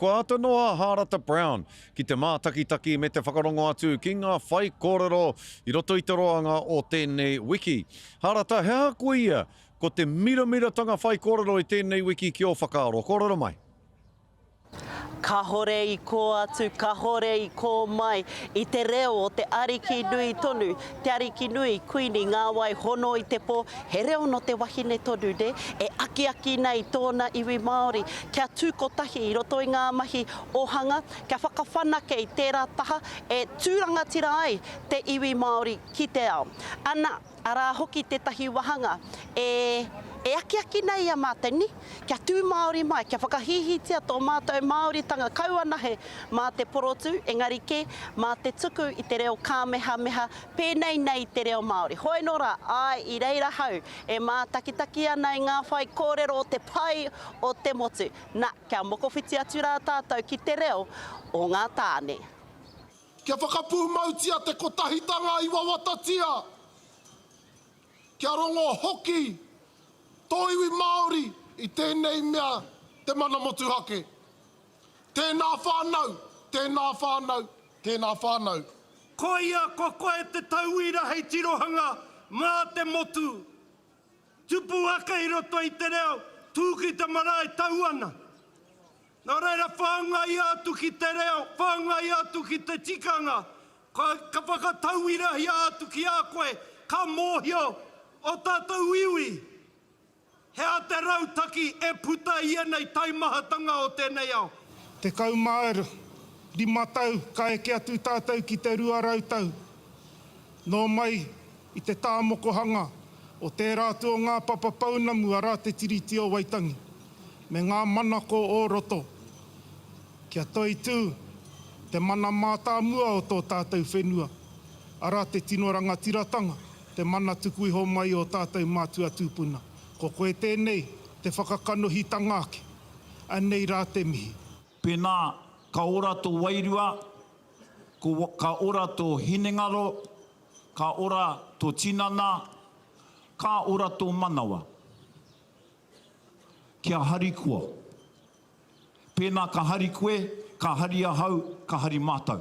Kua āta noa a Hārata Brown ki te mātakitaki me te whakarongo atu ki ngā whaikōrero i roto i te roanga o tēnei wiki. Hārata, he aha ko ia? Ko te miramiratanga whaikōrero i tēnei wiki ki ō whakaaro? Kōrero mai. Kahore i kō atu, kahore i kō mai, i te reo o te Ariki nui tonu. Te Arikinui, Kuini, Ngā wai hono i te pō, he reo nō te wahine tonu nē, e akiaki nei tōna iwi Māori kia tū kotahi i roto i ngā mahi ōhanga, kia whakawhanake i tērā taha e tū rangatira ai te iwi Māori ki te ao. Ana, arā hoki tētahi wāhanga e akiaki nei i a Māteni. Kia tū Māori mai, kia whakahīhītia tō mātou Māoritanga kau anahe mā te porotū, engari kē, mā te tuku i te reo kāmehameha, pēnei nei i te reo Māori. Hoi nō rā, āe, i reira hau e mātakitaki ana i ngā whaikōrero o te pai o te motu. Na, kia mokowhiti atu rā tātou ki te reo o ngā tāne. Kia whakapūmautia te kotahitanga i wawatatia, kia rongo hoki Tō iwi Māori i tēnei mea te mana motuhake. Tēnā whānau, tēnā whānau, tēnā whānau. Koia ko koe te tauira hei tirohanga mā te motu. Tupu ake i roto i te reo, tū ki te marae, tau ana. Nā reira, whāngaia atu ki te reo, whāngaia atu ki te tikanga, ka whakatauirahia atu ki a koe, ka mōhio ō tātou iwi he aha te rautaki e puta i ēnei taimahatanga o tēnei ao. Tekau mā rima tau ka eke atu tātou ki te rua rau tau. Nō mai. I te tāmokohanga o tērā atu o ngā papa pounamu arā Te Tiriti o Waitangi me ngā manako o roto, kia toitū te mana mātāmua o tō tātou whenua, arā te tino rangatiratanga, te mana tuku iho mai o tātou mātua tūpuna. Ko koe tēnei, te whakakanohitanga ake. Anei rā te mihi. Pēnā, ka ora tō wairua, ko, ka ora tō hinengaro, Ka ora to tinana, ka ora to manawa. Kia hari koa. Pena ka hari koe, ka hari ahau, ka hari matou.